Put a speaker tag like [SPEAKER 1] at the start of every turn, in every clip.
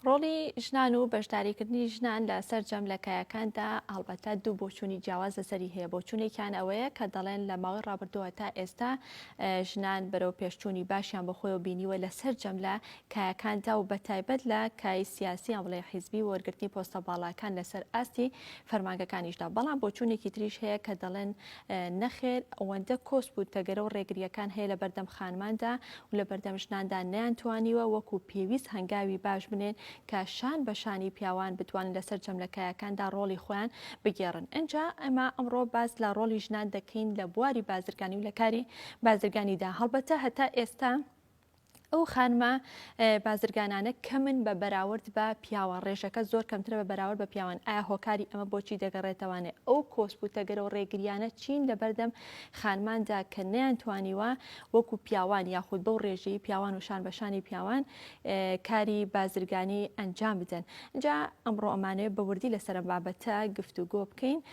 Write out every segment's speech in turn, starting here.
[SPEAKER 1] ڕۆڵی ژنان و بەشداریکردنی ژنان لە سەرجەم لە کایەکاندا هەڵبەتە دوو بۆچوونی جیاواز لەسەری هەیە بۆچوونێکیان ئەوەیە کە دەڵێن لە ماوەی ڕابردووە تا ئێستا ژنان بەرەو پێشچوونی باشیان بە خۆی و بینیوە لە سەرجەم لە کایەکاندا و بە تایبەت لە کای سیاسی ئەم بڵێ حیزبی وەرگرتنی پۆستە باڵاکان لەسەر ئاستی فەرمانگەکانیشدا بەڵام بۆچوونێکی تریش هەیە کە دەڵێن نەخێر ئەوەندە کۆسپ و تەگەرە و ڕێگرییەکان هەیە لە بەردەم خانماندا و لە بەردەم ژناندا نەیان توانیوە وەکو پێویست هەنگاوی باش بنێن کە شان بە شانی پیاوان بتوانن لە سەرجەم لە کایەکاندا ڕۆڵی خۆیان بگێڕن ئینجا ئەمە ئەمڕۆ باس لە ڕۆڵی ژنان دەکەین لە بواری بازرگانی و لە کاری بازرگانیدا هەڵبەتە هەتا ئێستا ئەو خانمە بازرگانانە کەمن بە بەراورد بە پیاوان ڕێژەکە زۆر کەمترە بە بەراورد بە پیاوان ئایا هۆکاری ئەمە بۆچی دەگەڕێتەوانێ ئەو کۆسپ و تەگەرە و ڕێگریانە چین لە بەردەم خانماندا کە نیان توانیوە وەکو پیاوان یاخود بەو ڕێژەی پیاوان و شان بەشانی پیاوان کاری بازرگانی ئەنجام بدەن جا ئەمڕۆ ئەمانەیە بەوردی لەسەر بابەتە گفتوگۆ بکەین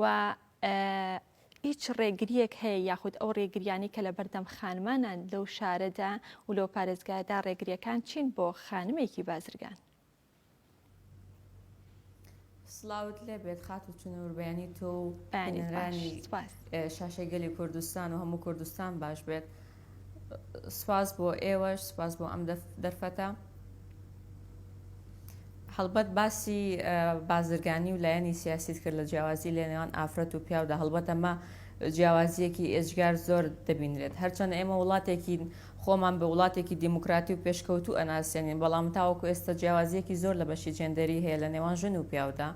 [SPEAKER 1] و هیچ ڕێگریەک هەیە یاخود ئەو ڕێگریانی کە لە بەردەم خانمانان لەو شارەدا و لەو پارێزگادا ڕێگریەکان چین بۆ خانمێکی بازرگان
[SPEAKER 2] سلااوت لێبێت خات و چنەوربیانی تۆ و شاشەی گەلی کوردستان و هەموو کوردستان باش بێت. سپاس بۆ ئێوەش سپاس بۆ ئەم دەرفەتە هەڵبەت باسی بازرگانی و لایەنی سیاسیت کرد لە جیاوازی لە نێوان ئافرەت و پیاودا هەڵبەتەمە جیاوازیەکی ئێجگار زۆر دەبینرێت هەرچەند ئێمە وڵاتێکی خۆمان بە وڵاتێکی دیموکراتی و پێشکەوتو ئەناسێنین بەڵام تاوەکو ئێستا جیاوازیەکی زۆر لە بەشی جێندەری هەیە لە نێوان ژن و پیاودا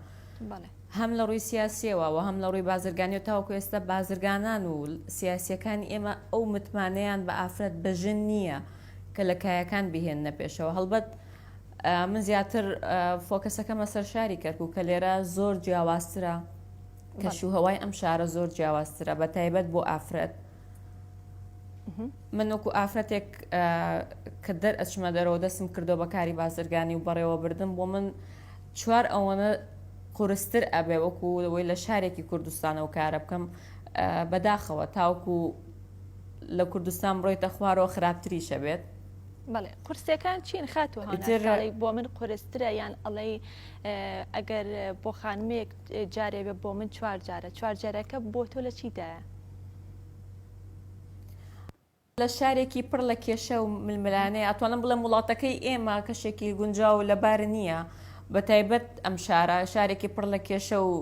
[SPEAKER 2] هەم لە ڕووی سیاسییەوە و هەم لە ڕووی بازرگانییەوە تاوەکو ئێستا بازرگانان و سیاسییەکانی ئێمە ئەو متمانەیان بە ئافرەت بە ژن نییە کە لە کایەکان بیهێننە پێشەوە هەڵبەت من زیاتر فۆکەسەکەمە سەر شاری کەرکوو کە لێرە زۆر جیاوازترە کەش و هەوای ئەم شارە زۆر جیاوازترە بە تایبەت بۆ ئافرەت من وەکو ئافرەتێک کە دەر ئەچمە دەرەوە دەستم کردو بە کاری بازرگانی و بەڕێوە بردن بۆ من چوار ئەوەنە قورستر ئەبێ وەکو لەوەی لە شارێکی کوردستانەوە کارە بکەم بەداخەوە تاوکو لە کوردستان بڕۆیتە خوارەوە خراپتریشە بێت بەڵێ
[SPEAKER 1] قورسەکان چین خاتوو بۆ من قورسترە یان ئەڵێ ئەگەر بۆ خانمێک جارێ بێ بۆ من چوار جارە
[SPEAKER 2] چوار جارەکە بۆ تۆ لە چیدایە؟ لە شارێکی پڕ لە کێشە و ململانێ ئەتوانم بڵێم وڵاتەکەی ئێمە کەشێکی گونجاو و لەبار نییە بە تایبەت ئەم شارە شارێکی پڕ لە کێشە و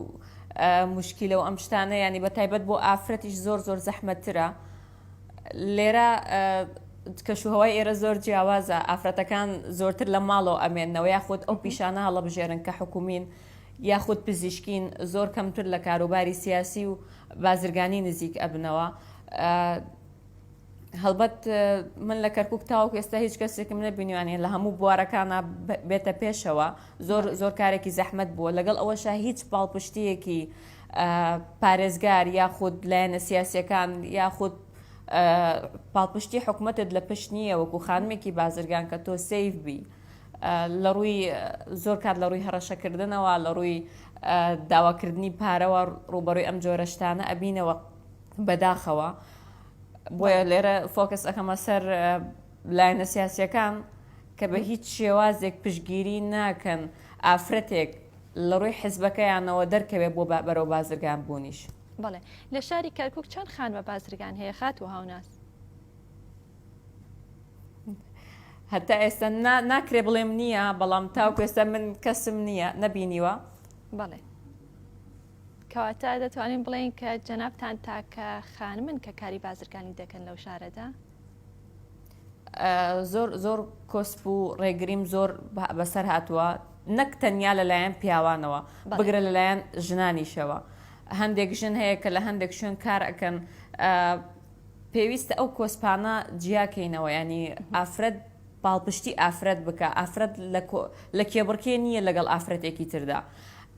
[SPEAKER 2] مشکیلە و ئەم شتانە ینی بە تایبەت بۆ ئافرەتیش زۆر زۆر زەحمەتترە لێرە کەشوهوای ئێرە زۆر جیاوازە ئافرەتەکان زۆرتر لە ماڵەوە ئەمێنەوە یاخود ئەو پیشانە هەڵەبژێرن کە حکومین یاخود پزیشکین زۆر کەمتر لە کاروباری سیاسی و بازرگانی نزیک ئەبنەوە هەڵبەت من لە کەرکک تاوەک ئێستا هیچ کەسێکم نەبینیوانە لە هەموو بوارەکانە بێتە پێشەوە زۆر زۆر کارێکی زەحمت بووە لەگەڵ ئەوەشە هیچ پاڵپشتیەکی پارێزگار یاخود لایەنە سیاسەکان یاخود پاڵپشتی حکوومەتت لە پشت نییە وەکو خانمێکی بازرگان کە تۆ سیف بی. لە ڕووی زۆر کات لە ڕووی هەڕەشەکردنەوە لە ڕووی داواکردنی پارەوە ڕووبەڕووی ئەم جۆرە شتانە ئەبینەوە بەداخەوە بۆیە لێرە فۆکس ئەەکەمە سەر لایەنە سیاسیەکان کە بە هیچ شێوازێک پشگیری ناکەن ئافرەتێک لە ڕووی حزبەکەیانەوە دەرکەوێت بۆ بەرەو بازرگان بوونیش بڵێ لە
[SPEAKER 1] شاری کەرکک چەند خانمە بازرگان هەیە خات و هاوناس
[SPEAKER 2] هەتا ئێستا ناکرێ بڵێم نییە بەڵام تاوکو ئێستا من کەسم نییە نەبینیوە بەڵێ
[SPEAKER 1] کەواتە دەتوانین بڵێین کە جەنابان تاکە خانمن کە کاری بازرگانی دەکەن لەو شارەدا
[SPEAKER 2] زۆر زۆر کۆسپ و ڕێگریم زۆر بەسەر هاتووە نەک تەنیا لەلایەن پیاوانەوە بگرە لەلایەن ژنانیشەوە هەندێک ژن هەیە کە لە هەندێک شوێن کار ئەەکەن پێویستە ئەو کۆسپانە جیا کەینەوە یانی ئافرەت پاڵپشتی ئافرەت بکا ئافرەت لە لە کێبڕکێ نییە لەگەڵ ئافرەتێکی تردا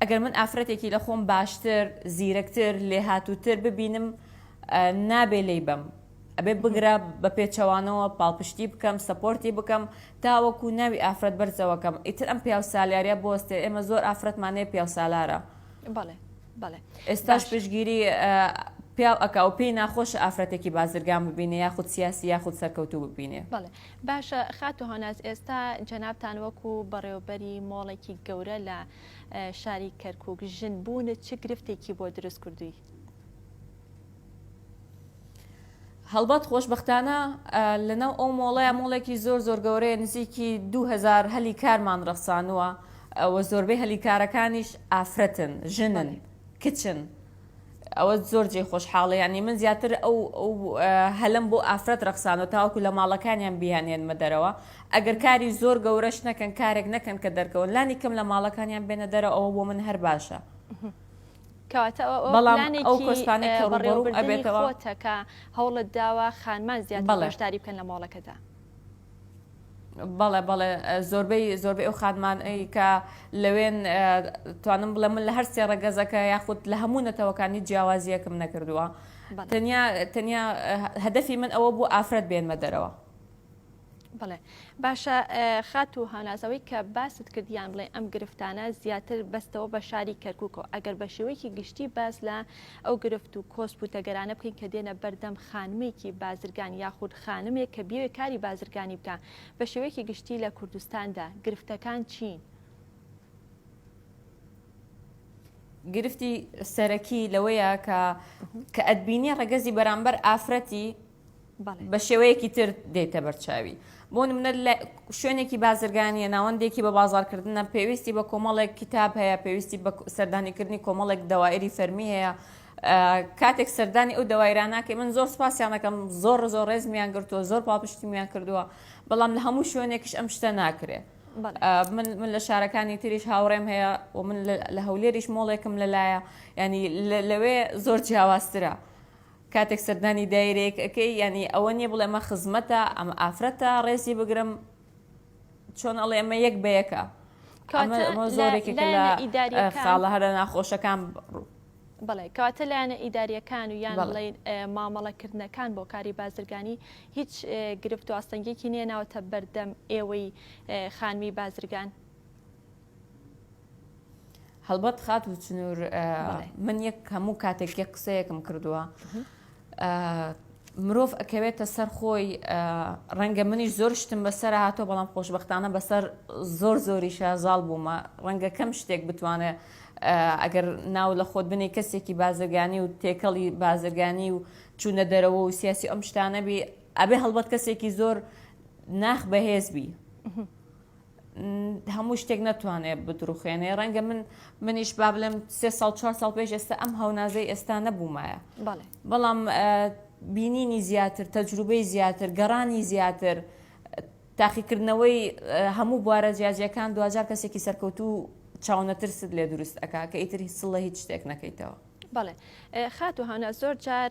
[SPEAKER 2] ئەگەر من ئافرەتێکی لە خۆم باشتر زیرەکتر لێهاتووتر ببینم نابێ لی بم ئەبێ بگرە بە پێچەوانەوە پاڵپشتی بکەم سپۆرتی بکەم تاوەکو ناوی ئافرەت بەرزەوەکەم ئیتر ئەم پیاو سالیارە بۆستێ ئێمە زۆر ئافرەتمانەیە پیاو سالارە بەڵێ بەڵێ ئێستاش پشگیری پیاو ئەکا و پێی ناخۆشە ئافرەتێکی بازرگان ببینێ یاخود سیاسی یاخود سەرکەوتوو ببینێ بەڵێ باشە
[SPEAKER 1] خاتو هەناز ئێستا جەنابان وەکو بەڕێوبەری مۆڵێکی گەورە لە شاری کەرکک ژن بوونە چ گرفتێکی بۆ دروست کردووی
[SPEAKER 2] هەڵبەت خۆشببختانە لەناو ئەو مۆڵەیە مۆڵێکی زۆر زۆر گەورەیە نزیکی 2000 هەلی کارمان ڕەخسانووە ئەوە زۆربەی هەلی کارەکانیش ئافرەتن ژنن کچن ئەوە زۆر جێ خۆشحاڵە ینی من زیاتر ئەو هەلم بۆ ئافرەت ڕەخسانەوە تاوەکو لە ماڵەکانیان بیانێنمە دەرەوە ئەگەر کاری زۆر گەورەش نەکەن کارێک نەکەن کە دەرکەون لانی کەم لە ماڵەکانیان بێنە دەرە ئەوە بۆ من هەر باشە. کەواتە ئەوە
[SPEAKER 1] بەڵام ئەو پلانێکی کۆسپانەی کە ڕووبەڕوو بەڕێوەبردنی ئەبێتەوە خۆتە کە هەوڵت داوە خانمان زیاتر بەڵێ بەشداری بکەن لە مۆڵەکەدا. بەڵێ
[SPEAKER 2] بەڵێ زۆربەی زۆربەی ئەو خانمان ی کە لەوێن ئە توانم بڵێم من لە هەر سێ ڕەگەزەکە یاخود لە هەموو نەتەوەکان هیچ جیاوازییەکم نەکردووە بەڵێ تەنیا تەنیا هە هەدەفی من ئەوە بوو ئافرەت بێنمە دەرەوە.
[SPEAKER 1] بڵێ باشە خات و هانازەوەی کە باست کرد یان بڵێ ئەم گرفتانە زیاتر بەستەوە بە شاری کەرککەوە ئەگەر بە شێوەیەکی گشتی باس لە ئەو گرفت و کۆسپ و تەگەرانە بکەین کە دێنە بەردەم خانمێکی بازرگان یاخود خانمێک کە بێوێ کاری بازرگانی بکە بە شێوەیەکی گشتی لە کوردستاندا گرفتەکان چین؟
[SPEAKER 2] گرفتی سەرەکی لەوەیە کە کە ئەدبینی ڕگەزی بەرامبەر ئافرەتی بە شێوەیەکی تر دێتە بەرچاوی بۆ منە لە شوێنێکی بازرگانیە ناوەندێکی بە بازارکردنە پێویستی بە کۆمەڵێک کتاب هەیە پێویستی بە سەردانیکردنی کۆمەڵێک دەوایری فەرمی هەیە کاتێک سەردانی ئەو دەوایرانناکە من زۆر سپاسیانەکەم زۆر زۆر ڕێزمیان گرتووە زۆر پاپشتیمیان کردووە بەڵام لە هەموو شوێنێکش ئەم شتە ناکرێت من من لە شارەکانی تریش هاوڕێم هەیە و من لە هەولێریش مۆڵێکم لەلایە ینی لەوێ زۆر جیاوازترە. کاتێک سەردانی دایرەیەک ئەکەی یانی ئەوە نیە بڵێ ئەمە خزمەتە ئەمە ئافرەتە ڕێزی بگرم چۆن ئەڵێ ئەمە یەک بەیەکە ئەمە زۆرێکێکە لە خاڵە هەرە ناخۆشەکان بڵێ
[SPEAKER 1] کەواتە لایەنە ئیداریەکان و یان بڵێ مامەڵەکردنەکان بۆ کاری بازرگانی هیچ گرفت و ئاستەنگێکی نیە ناوەتە بەردەم ئێوەی خانمی بازرگان
[SPEAKER 2] هەڵبەت خات و چنوور من یەک هەموو کاتێک یە قسەیەکم کردووە مرۆڤ ئەکەوێتە سەر خۆی ڕەنگە منیش زۆر شتم بەسەر هاتۆ بەڵام خۆشببختانە بەسەر زۆر زۆری شازاڵ بوومە ڕەنگە کەم شتێک بتوانێت ئەگەر ناو لە خۆت بنێ کەسێکی بازرگانی و تێکەڵی بازرگانی و چوونە دەرەوە و سیاسی ئەم شتانەبی ئەبێ هەڵبەت کەسێکی زۆر ناخ بەهێزبی هەموو شتێک نەتوانێ بدروخێنێ ڕەنگە من منیش با بڵێم سێ ساڵ چوار ساڵ پێش ئێستا ئەم هەونازەی ئێستا نەبوومایە بەڵام بینینی زیاتر تەجروبەی زیاتر گەڕانی زیاتر تاقیکردنەوەی هەموو بوارە جیاجیەکان دوجار کەسێکی سەرکەوتو چاونەترست لێ دروست ئەک کە ئیتر هیچ سڵە هیچ شتێک نەکەیتەوە بەڵێ
[SPEAKER 1] خاتو هانا زۆر جار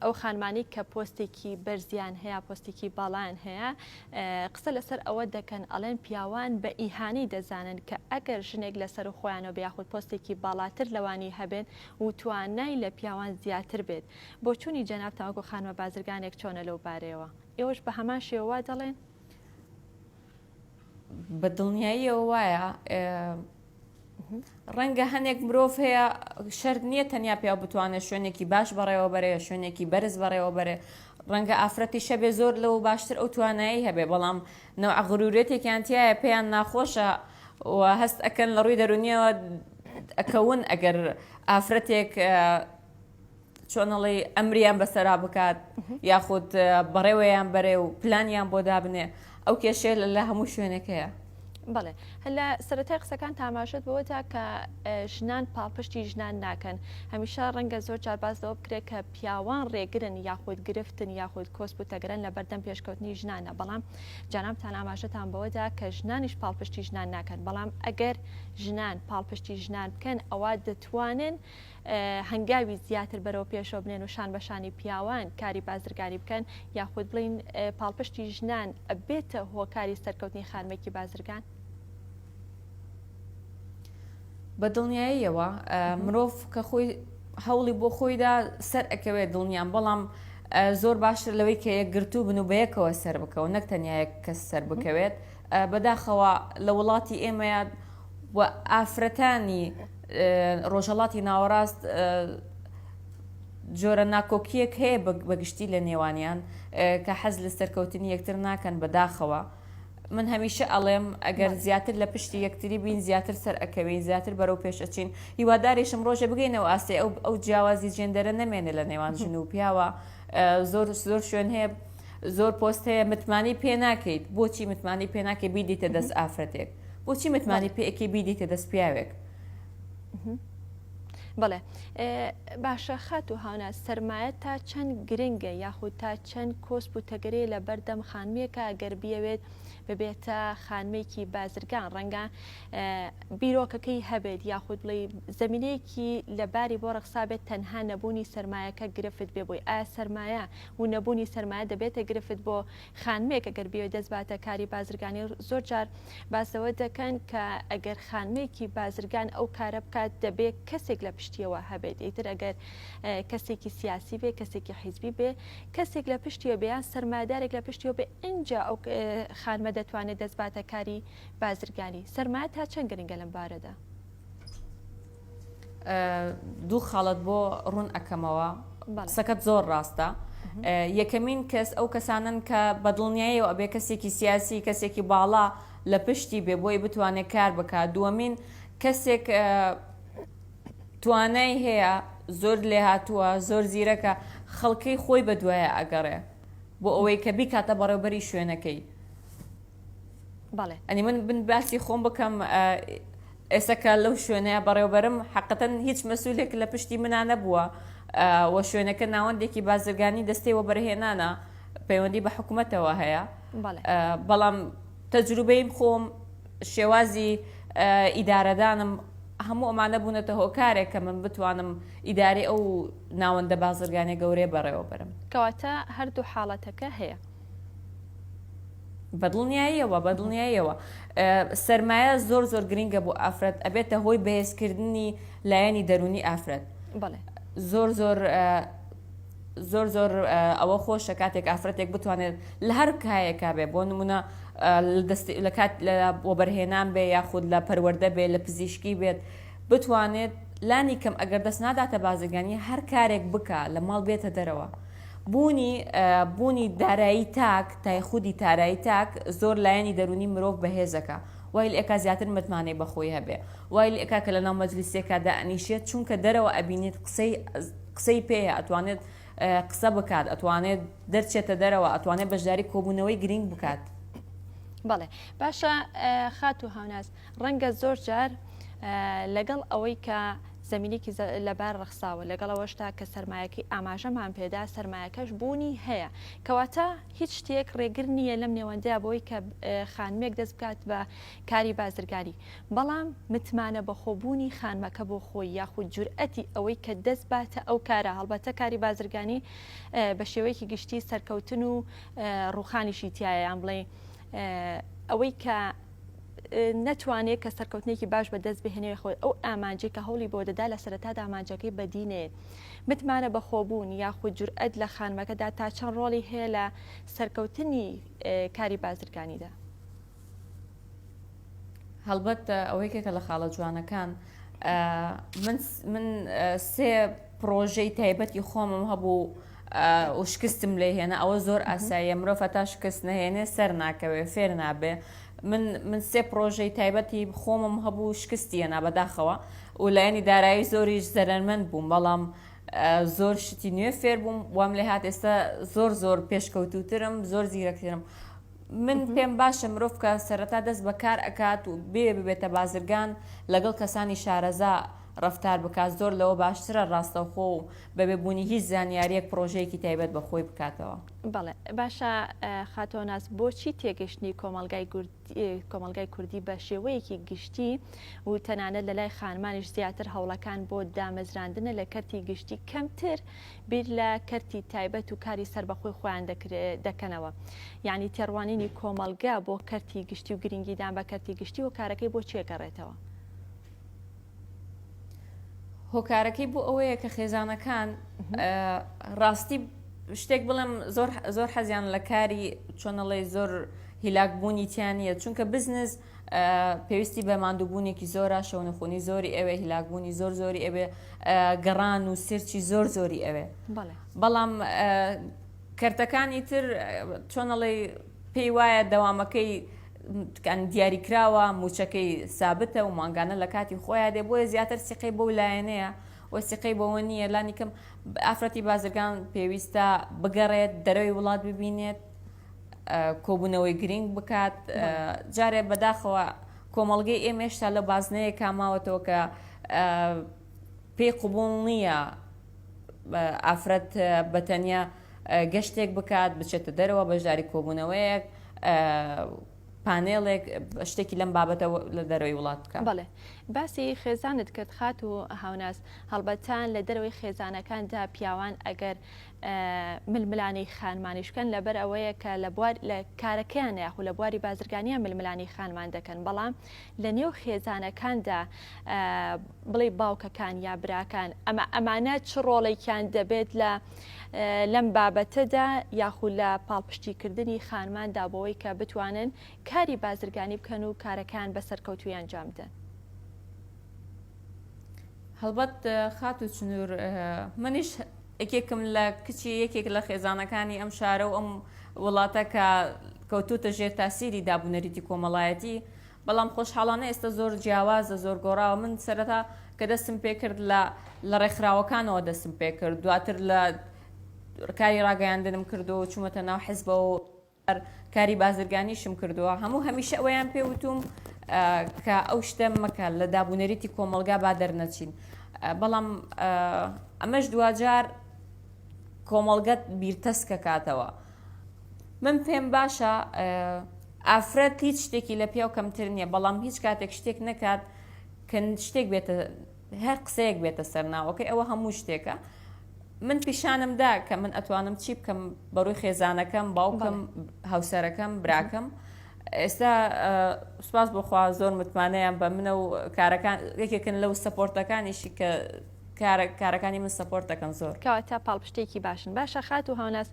[SPEAKER 1] ئەو خانمانەی کە پۆستێکی بەرزیان هەیە پۆستێکی باڵایان هەیە قسە لەسەر ئەوە دەکەن ئەڵێن پیاوان بە ئیهانی دەزانن کە ئەگەر ژنێک لەسەر و خۆیانەوە بیاخود پۆستێکی باڵاتر لەوانی هەبێت و توانای لە پیاوان زیاتر بێت بۆچوونی جەناب تاوەکو خانمە بازرگانێک چۆنە لەو بارەیەوە ئێوەش بە هەمان شێوە دەڵێن
[SPEAKER 2] بە دڵنیاییەوە وایە ڕەنگە هەنێک مرۆڤ هەیە شرد نییە تەنیا پیا بتوانێت شوێنێکی باش بەڕێوە بەرێ شوێنێکی بەرز بەڕێوە بەرێ ڕەنگە ئافرەتی شەبێ زۆر لەو باشتر ئەو توانایی هەبێ بەڵام نەوە غرورێتێکیان تایە پێیان ناخۆشە و هەست ئەکەن لە ڕووی دەرونیەوە ئەکەون ئەگەر ئافرەتێک چۆن ئەڵێی ئەمریان بەسەرا بکات یاخود بەڕێوەیان بەرێ و پلانیان بۆ دابنێ ئەو کێشێ لە لە هەموو شوێنەکەیە بڵێ
[SPEAKER 1] هەلا سەرەتای قسەکان تاماشت بەوە تا کە ژنان پاڵپشتی ژنان ناکەن هەمیشە ڕەنگە زۆر جار باس لەوە بکرێت کە پیاوان ڕێگرن یاخود گرفتن یاخود کۆسپ و تەگرن لە بەردەم پێشکەوتنی ژنانە بەڵام جانامتان ئاماژەتان بەوەدا کە ژنانیش پاڵپشتی ژنان ناکەن بەڵام ئەگەر ژنان پاڵپشتی ژنان بکەن ئەوە دەتوانن هەنگاوی زیاتر بەرەو پێشەوە بنێن و شان بەشانی پیاوان کاری بازرگانی بکەن یاخود بڵین پاڵپشتی ژنان بێتە هۆکاری سەرکەوتنی خانمێکی بازرگان؟
[SPEAKER 2] بە دڵنیاییەوە مرۆڤ کە خۆی هەوڵی بۆ خۆیدا سەر ئەکەوێت دڵنیان بەڵام زۆر باشتر لەوەی کە یەکگرتوو بن و بەیەکەوە سەر بکەون نەک تەنیا یەک کەس سەر بکەوێت بەداخەوە لە وڵاتی ئێمەیا و ئافرەتانی ڕۆژهەڵاتی ناوەڕاست جۆرە ناکۆکیەک هەیە بەگشتی لە نێوانیان کە حەز لە سەرکەوتنی یەکتر ناکەن بەداخەوە من هەمیشە ئەڵێم ئەگەر زیاتر لە پشتی یەکتری بین زیاتر سەر ئەکەوین زیاتر بەرەو پێش ئەچین هیوادارێشم ڕۆژە بگەینەوە ئاستی ئەو ئەو جیاوازی جێندەرە نەمێنێ لە نێوان ژن و پیاوە زۆر زۆر شوێن هەیە زۆر پۆست هەیە متمانی پێ ناکەیت بۆچی متمانی پێ ناکە بیدیتە دەست ئافرەتێک بۆچی متمانی پێکی بیدیتە دەست پیاوێک
[SPEAKER 1] بڵێ باشە خات و هاونا سرمایە تا چەند گرنگە یاخود تا چەند کۆسپ و تەگەرەیە لە بەردەم خانمێکە گەر بیاوێت ببێتە خانمێکی بازرگان ڕەنگە بیرۆکەکەی هەبێت یاخود بڵێ زمینەیەکی لەباری بۆ ڕەخسابێت تەنها نەبوونی سرمایەکە گرفت بێ بۆی ئایا سرمایە و نەبوونی سەرمایە دەبێتە گرفت بۆ خانمێک ئەگەر بیەوێت دەست باتە کاری بازرگانی زۆر جار باس لەوە دەکەن کە ئەگەر خانمێکی بازرگان ئەو کارە بکات دەبێ کەسێک لە پشتیەوە هەبێت ئیتر ئەگەر کەسێکی سیاسی بێ کەسێکی حیزبی بێ کەسێک لە پشتیەوە بێ یان سەرمایەدارێک لە پشتیەوە بێ ئینجا ئەو خانمە دەتوانێت دەست باتە کاری بازرگانی سەرمایە تا چەند گرنگە لەم بارەدا؟
[SPEAKER 2] دوو خاڵت بۆ ڕوون ئەکەمەوە قسەکەت زۆر ڕاستە یەکەمین کەس ئەو کەسانن کە بەدڵنیایی و ئەبێ کەسێکی سیاسی کەسێکی باڵا لە پشتی بێ بۆی بتوانێت کار بکات دووەمین کەسێک توانای هەیە زۆر لێ هاتووە زۆر زیرەکە خەڵکەی خۆی بە دوایە ئەگەڕێ بۆ ئەوەی کە بیکاتە بەڕێوبەری شوێنەکەی بەڵێ ئەنی من بن باسی خۆم بکەم ئێسەکە لەو شوێنەیە بەڕێوبەرم حقەتەن هیچ مەسوولێک لە پشتی منا نەبووە و شوێنەکە ناوەندێکی بازرگانی دەستەی وەبەرهێنانە پەیوەندی بە حکوومەتەوە هەیە بەڵام تەجروبەیم خۆم شێوازی ئیدارەدانم هەموو ئەمانە بوونەتە هۆکارێک کە من بتوانم ئیداری ئەو ناوەندە بازرگانە گەورەیە بەڕێوە بەرم کەواتە هەردوو
[SPEAKER 1] حاڵەتەکە هەیە
[SPEAKER 2] بەدڵنیاییەوە بەدڵنیاییەوە سەرمایە زۆر زۆر گرنگە بۆ ئافرەت ئەبێتە هۆی بەهێزکردنی لایەنی دەرونی ئافرەت زۆر زۆر زۆر زۆر ئەوە خۆشە کاتێک ئافرەتێک بتوانێت لە هەر کایەکە بێ بۆ نمونە لە کات لە وەبەرهێنان بێ یاخود لە پەروەەردە بێ لە پزیشکی بێت بتوانێت لانی کەم ئەگەر دەست ناداتە بازرگانی هەر کارێک بک لە ماڵ بێتە دەرەوە بوونی بوونی دارایی تاک تای خودی تارایی تاک زۆر لایەنی دەروونی مرۆڤ بەهێزەکە وایل ئەکا زیاتر متمانەی بەخۆی هەبێ وایل ئەکا کە لەناو مەجلیسێکا دائەنیشێت چونکە دەرەوە ئەبینێت قسەی قسەی پێیە ئەتوانێت قسە بکات ئەتوانێت دەرچێتە دەرەوە ئەتوانێت بەشداری کۆبوونەوەی گرنگ بکات بەڵێ
[SPEAKER 1] باشە خات و هاوناز ڕەنگە زۆر جار لەگەڵ ئەوەی کە زمینێکی لەبار ڕخساوە لەگەڵ ئەوەشتا کە سرمایەکەی ئاماژەمان پێدا سرمایەکەش بوونی هەیە کەواتە هیچ شتێک ڕێگر نییە لەم نێوەندە بۆی کە خانمێک دەست بکات بە کاری بازرگانی بەڵام متمانە بەخۆبوونی خانمەکە بۆ خۆی یاخود جورئەتی ئەوەی کە دەست باتە ئەو کارە هەڵبەتە کاری بازرگانی بە شێوەیەکی گشتی سەرکەوتن و ڕوخانیشی تایەیان بڵێ ئەوەی کە نەتوانێت کە سەرکەوتنێکی باش بە دەست بهێنێ خۆی ئەو ئامانجی کە هەوڵی بۆ دەدا لە سەرەتا دامانجەکەی بەدی نەیەت متمانە بەخۆبوون یاخود جورئەت لە خانمەکەدا تا چەند ڕۆڵی هەیە لە سەرکەوتنی کاری بازرگانیدا
[SPEAKER 2] هەڵبەت ئەوەیکێکە لە خاڵە جوانەکان من سێ پرۆژەی تایبەتی خۆمم هەبوو و شکستم لێ هێنا ئەوە زۆر ئاساییە مرۆڤ هەتا شکست نەهێنێ سەر ناکەوێ فێر نابێ من من سێ پرۆژەی تایبەتی خۆمم هەبوو شکستی هێنا بەداخەوە و لایەنی دارایی زۆریش زەرەرمەند بووم بەڵام زۆر شتی نوێ فێر بووم وام لێ هات ئێستا زۆر زۆر پێشکەوتوترم زۆر زیرەکترم من پێم باشە مرۆڤ کە سەرەتا دەست بە کار ئەکات و بێ ببێتە بازرگان لەگەڵ کەسانی شارەزا ڕفتار بکات زۆر لەوە باشترە ڕاستەوخۆ و بەبێ بوونی هیچ زانیاریەک پرۆژەیەکی تایبەت بە خۆی بکاتەوە. بەڵێ باشە
[SPEAKER 1] خاتۆناس بۆچی تێگەشتنی کۆمەلگای کۆمەلگای کوردی بە شێوەیەکی گشتی و تەنانەت لە لای خانمانیش زیاتر هەوڵەکان بۆ دامەزراندنە لە کەرتی گشتی کەمتر بیر لە کەرتی تایبەت و کاری سەربەخۆی خۆیان دەکەنەوە یعنی تێڕوانینی کۆمەڵگە بۆ کەرتی گشتی و گرنگیدان بە کەرتی گشتی و کارەکەی بۆ چێ گەڕێتەوە.
[SPEAKER 2] هۆکارەکەی بۆ ئەوەیە کە خێزانەکان ڕاستی شتێک بڵێم زۆر زۆر حەزیان لە کاری چۆنەڵی زۆر هیلاک بوونی تیانە چونکە بزنس پێویستی بە ماندووبوونێکی زۆرە شەونخونی زۆری ئەوێ هیلاکبوونی زۆر زۆری ئەوێ گەڕان و سرچی زۆر زۆری ئەوێ بەڵام کەرتەکانی تر چۆنەڵی پێی وایە دەوامەکەی کان دیاری کراوە موچەکەی سابتە و مانگانە لە کاتی خۆیان دێ بۆیە زیاتر سیقەی بەو لایەنەیە وەسیقەی بەوە نییە لانیکەم ئافرەتی بازرگان پێویستە بگەڕێت دەرەوەی وڵات ببینێت کۆبوونەوەی گرینگ بکات جارێ بەداخەوە کۆمەڵگەی ئێمە هێشتا لە بازنەیە کاماوەتەوە کە پێی قوبول نییە ئافرەت بەتەنیا گەشتێک بکات بچێتە دەرەوە بەشداری کۆبوونەوەیەک پانێڵێک شتێکی لەم بابەتە لە دەروی وڵات بکە بڵێ باسی
[SPEAKER 1] خێزانت کرد خات و هاوناس هەڵبەتان لە دەروی خێزانەکاندا پیاوان ئەگەر ململانێی خانمانیش بکەن لەبەر ئەوەیە کە لە بوار لە کارەکەیان یاخو لە بواری بازرگانیان ململانێی خانمان دەکەن بەڵام لە نێو خێزانەکاندا بڵێ باوکەکان یا براکان ئەمە ئەمانە چ ڕۆڵێکیان دەبێت لە لەم بابەتەدا یاخو لە پاڵپشتیکردنی خانماندا بۆەوەی کە بتوانن کاری بازرگانی بکەن و کارەکان بە سەرکەوتویان جامدەن. هەڵبەت خات و چنوور
[SPEAKER 2] منیش یەکێکم لە کچی یەکێک لە خێزانەکانی ئەم شارە و ئەم وڵاتە کە کەوتووتە ژێر تاسیری دابونەریتی کۆمەڵایەتی، بەڵام خۆشحاڵانە ئێستا زۆر جیاوازە، زۆر گۆڕاوە، من سەرەتا کە دەستم پێکرد لە لە ڕێکخراوەکانەوە دەستم پێکرد، دواتر لە کاری ڕاگەیاندنم کرد و چوومەتە ناو حزبەوە و. کاری بازرگانیشم کردووە هەموو هەمیشە ئەوەیان پێ وتوم کە ئەو شتە مەکە لە دابونەریتی کۆمەلگا با دەرنەچین بەڵام ئەمەش دواجار کۆمەڵگەت بیرتەس کە کاتەوە من پێم باشە ئافرەت هیچ شتێکی لە پیاو کەمتر نییە بەڵام هیچ کاتێک شتێک نەکات کە شتێک بێتە هەر قسەیەک بێتە سەر ناوەکەی ئەوە هەموو شتێکە من پیشانم دا کە من ئەتوانم چی بکەم بەڕووی خێزانەکەم باوکم هاوسەرەکەم براکەم ئێستا سوپاس بۆخوا زۆر متمانەیان بە منە و کارەکان یەکێکن لەو سەپۆرتەکانیشی کە کارەکانی من سپۆرت دەکەن زۆر کەواتە پاڵپشتێکی
[SPEAKER 1] باشن باشە خات و هاوناس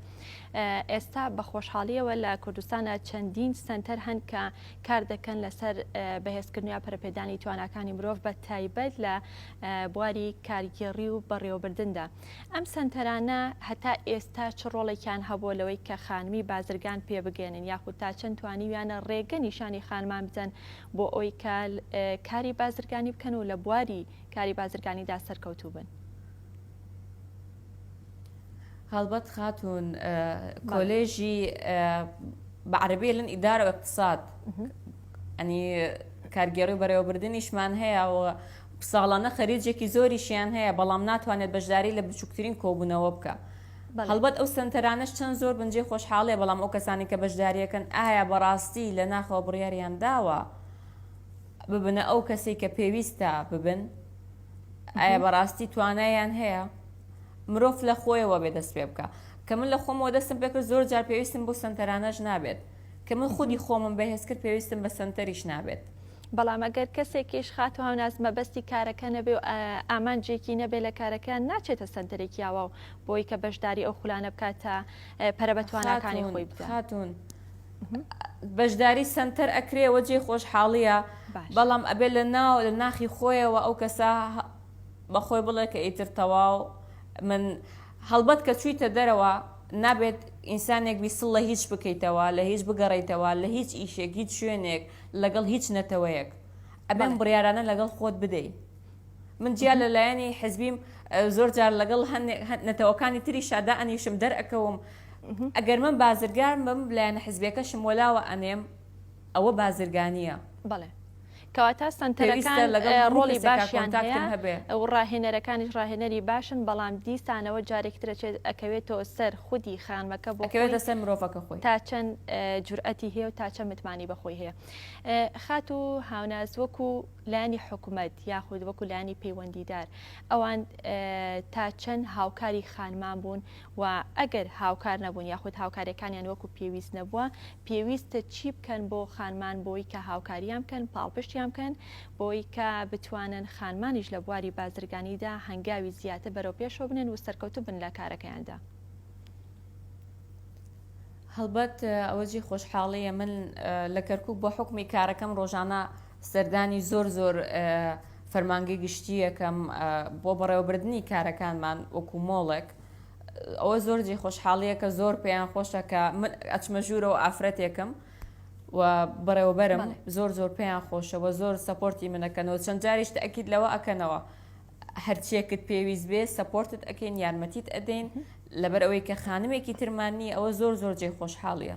[SPEAKER 1] ئێستا بە خۆشحاڵیەوە لە کوردستانە چەندین سنتەر هەن کە کار دەکەن لەسەر بەهێزکردن یا پەرپێدانی تواناکانی مرۆڤ بە تایبەت لە بواری کارگێڕی و بەڕێوەبردندا ئەم سنتەرانە هەتا ئێستا چ ڕۆڵێکیان هەبووە لەوەی کە خانمی بازرگان پێبگەێنن یاخود تا چەند توانیویانە ڕێگە نیشانی خانمان بدەن بۆ ئەوی کە کاری بازرگانی بکەن و لە بواری کاری بازرگانیدا سەرکەوتوو بن.
[SPEAKER 2] هەڵبەت خاتون کۆلێژی بە عربی لەن ئیدار و اقتصاد ئەنی کارگێڕی بەرەوەبردننیشمان هەیە و ساڵانە خەریجێکی زۆریشیان هەیە بەڵام ناتوانێت بەشداری لە بچووکترین کۆبوونەوە بکە. هەڵبەت ئەو سنتەرانش چەند زۆر بنجێ خۆشحاڵێ بەڵام ئەو کەسانی کە بەشداریەکەن ئایا بەڕاستی لە ناخەوە بڕیاریان داوە ببنە ئەو کەسی کە پێویستە ببن. ئایا بەڕاستی توانایان هەیە مرۆڤ لە خۆیەوە بێ دەست پێ بکە کە من لە خۆمەوە دەستم پێکرد زۆر جار پێویستم بۆ سنتەرانەش نابێت کە من خودی خۆمم بەهێز کرد پێویستم بە سنتەریش نابێت بەڵام ئەگەر
[SPEAKER 1] کەسێکیش خات و هاوناز مەبەستی کارەکە نەبێ و ئامانجێکی نەبێ لە کارەکە ناچێتە سنتەرێکی یاوە و بۆی کە بەشداری ئەو خولانە بکاتە پەرە بە تواناکانی خۆی بکاتون.
[SPEAKER 2] بەشداری سەنتەر ئەکرێ وە جێ خۆشحاڵیە بەڵام ئەبێ لە ناو لە ناخی خۆیەوە ئەو کەسە بەخۆی بڵێ کە ئیتر تەواو من هەڵبەت کە چوویتە دەرەوە نابێت ئینسانێک بیسڵ لە هیچ بکەیتەوە لە هیچ بگەڕیتەوە لە هیچ ئیشێک هیچ شوێنێک لەگەڵ هیچ نەتەوەیەک ئەبێن بڕیارانە لەگەڵ خۆت بدەیت من جیا لە لایەنی حزبیم زۆر جار لەگەڵ نەتەوەکانی تری شادا ئەنیشم دەرەکەوم ئەگەر من بازرگان بم لایەن حزبەکەشم وەلاوە ئەنێم ئەوە بازرگانیە بڵێ
[SPEAKER 1] کەواتە سنتەرەکان لەگەڵ ڕۆڵی باشیان هەبێ ئەو ڕاهێنەرەکانیش ڕاهێنەری باشن بەڵام دیسانەوە جارێکترەچێت ئەکەوێتەوە سەر خودی خانمەکە بۆکەوێتە سەر مرۆڤەکە
[SPEAKER 2] خۆی تا چەند
[SPEAKER 1] جورئەتی هەیە و تا چە متمانی بەخۆی هەیە خات و هاوناز وەکو لایەنی حکومەت یاخود وەکو لایەنی پەیوەندیدار ئەوان تا چەند هاوکاری خانمان بوون و ئەگەر هاوکار نەبوون یاخود هاوکارەکانیان وەکو پێویست نەبووە پێویستە چی بکەن بۆ خانمان بۆی کە هاوکاریان بکەن پاڵپشتیان بکەن بۆی کە بتوانن خانمانیش لە بواری بازرگانیدا هەنگاوی زیاتر بەرەو پێشەوە بنێن و سەرکەوتوو بن لە کارەکەیاندا.
[SPEAKER 2] هەڵبەت ئەوە جێی خۆشحاڵییە من لە کەرکووک بە حوکمی کارەکەم ڕۆژانە سەردانی زۆر زۆر فەرمانگەی گشتیەکەم بۆ بەڕێوەبردننی کارەکانمان وەکو مۆڵێک ئەوە زۆر جێ خۆشحاڵیە کە زۆر پێیان خۆشە کە من ئەچمە ژوورەوە ئافرەتێکم و بەڕێوەبەرم زۆر زۆر پێیان خۆشەوە زۆر سپۆرتی منەکەنەوە چەند جاریش ئەکییت لەوە ئەکەنەوە هەرچیەکت پێویست بێ سپۆرتت ئەەکەین یارمەتیت ئەدەین لەبەر ئەوەی کە خانمێکی ترماننی ئەوە زۆر زۆر جێ خۆشحاڵیە.